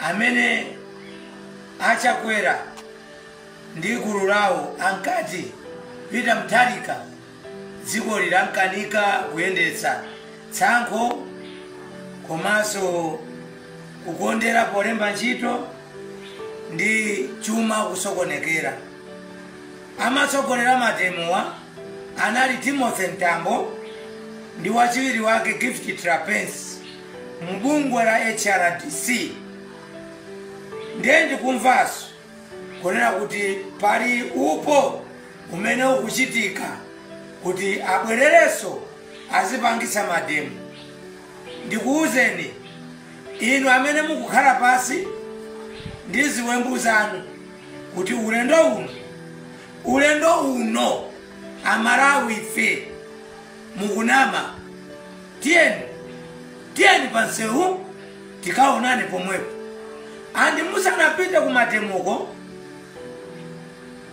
Amene a Chakwera ndi gulu lawo ankati Peter Mutharika dziko lilankanika kuyendetsa, tsankho komanso kukondera polemba ntchito ndi chuma kusokonekera. Amatsogolera mademowa anali Timothy Mtambo ndi wachiwiri wake Gift Trapence. mbungwe la hrdc ndiye ndikumvanso kunena kuti pali upo umene ukuchitika kuti abwererenso azipangitsa mademo ndikuwuzeni inu amene mukukhala pasi ndi ziwembu zanu kuti ulendo uno ulendo uno amalawi ife mukunama tiyeni tiyeni pansewu tikaonane pomwepo andi musanapite kumademoko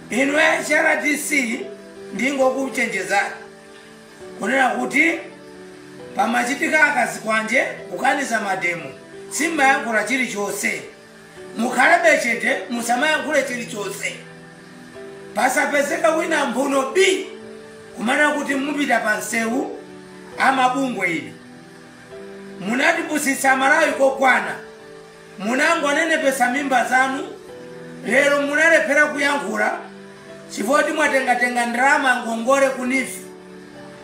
inu hrdc ndingokuchenjezani kunena kuti pamachitika zazikwanje kukaniza mademo simmayankhula chilichonse mukhalebe chete musamayankhule chilichonse pasapezeka wina mphuno bi kumana kuti mupita pa msewu amabungwe inu munatipusitsa amalawi kokwana munangonenepetsa mimba zanu lero munalephera kuyankhula chifoti mwatengatenga ndalama ngongole ku NEEF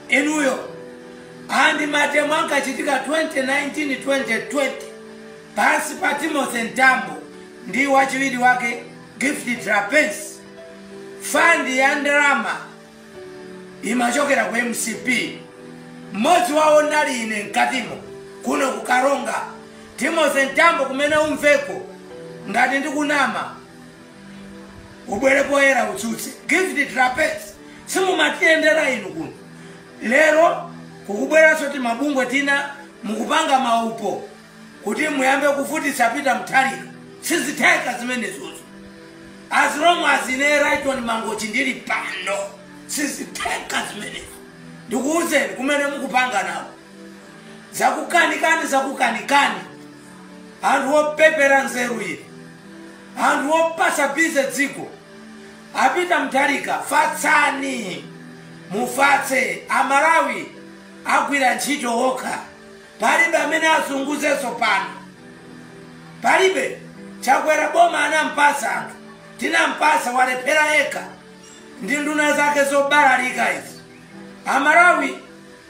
inuyo andi mademo ankachitika 2019 2020 pansi pa Timothy Mtambo ndi wachiwiri wake Gift Trapence, fandi ya ndalama imachokera ku mcp mmodzi wawo ndinali ine mkatimo kuno ku karonga timothy mtambo kumene umveko ngati ndikunama ubwere poyera utsutse gift trapence simumatiyendera inu kuno lero kukubweranso timabungwe tina mukupanga maupo kuti muyambe kuvutitsa peter mutharika sizitheka zimenezozo as long as ine rayton mangochi ndili pano sizitheka zimenezo ndikuwuzeni kumene mukupanga nawo zakukanikani zakukanikani anthu opepera nzeru inu anthu opatsa bize dziko a peter mutharika fatsani mufatse amalawi agwire ntchito okha Palibe amene azunguzenso pano palibe chakwera boma anampasa anthu tinampasa walephera yekha ndi nduna zake zobalalika izi amalawi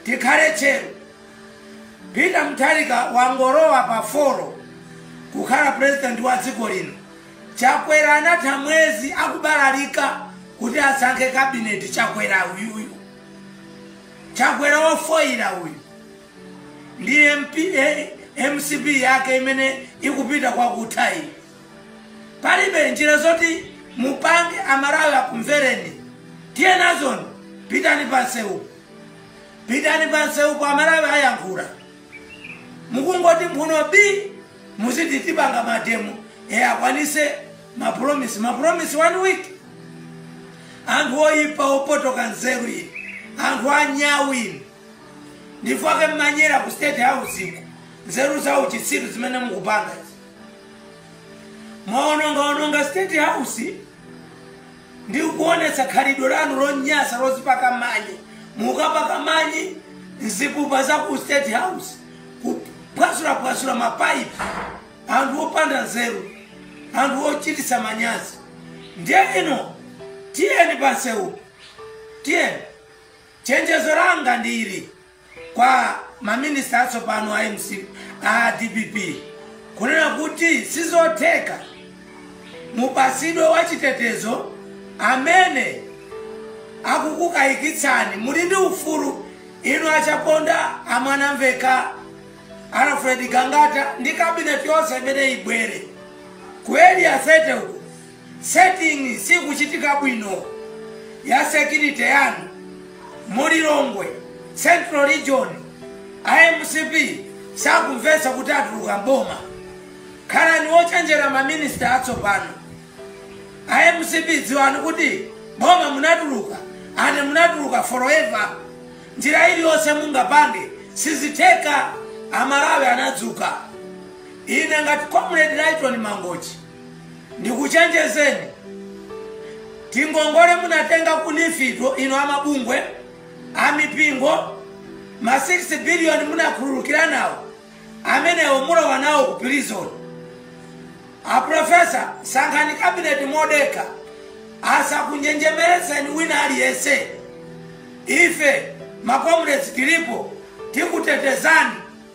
tikhale tcheru peter mutharika wangolowa pa foro kukhala purezidenti wa dziko lino chakwera anatha mwezi akubalalika kuti asankhe kabineti chakwera uyuyu chakwera wofoyira uyu ndi mcp yake imene ikupita kwakutha iyi palibe njira zoti mupange amalawi akumvereni tiye nazoni pitani pansewupo pitani pansewupo amalawi ayankhula mukungoti mphuno bii muziti tipanga mademo akwanise mapromisi mapromisi one week anthu oyipa opotoka nzeru inu anthu anyawu inu ndi chake mmanyera ku state house iko nzeru za uchitsiru zimene mukupanga izi mwaonongaononga state house ndi kuonetsa khalidwe lanu lonyasa lozipaka manyi mukapaka manyi mzipupa za ku state house kuphwasulaphwasula mapaipi anthu opanda nzeru anthu ochititsa manyazi ndiye inu tiyeni pansewu tiyeni Chenjezo langa ndi ili kwa ma minister atsopano a mcp, a dpp kunena kuti sizotheka mupasidwe wachitetezo amene akukukayikitsani. Muli ndi ufulu inu a Chaponda, a Mwanamveka, Alfred Gangata ndi cabinet yonse imene ibwere ku area 30 uko Setting sikuchitika bwino ya security yanu mu Lilongwe central region a mcp sakumvetsa kuti atuluka mboma khalani wochenjera ma minister atsopano a mcp dziwani kuti boma munatuluka ane munatuluka forever njira iliyonse mungapange sizitheka amalawi anadzuka ine ngati comrade lyton mangochi ndikuchenjezeni tingongole munatenga ku neef inu amabungwe amipingo ma 6 biliyoni munakhululukira nawo amenewo mulowa nawo ku prison aprofesa sankhani kabineti modekha asakunjenjemeretseni wina aliyense ife makomuredi tilipo tikutetezani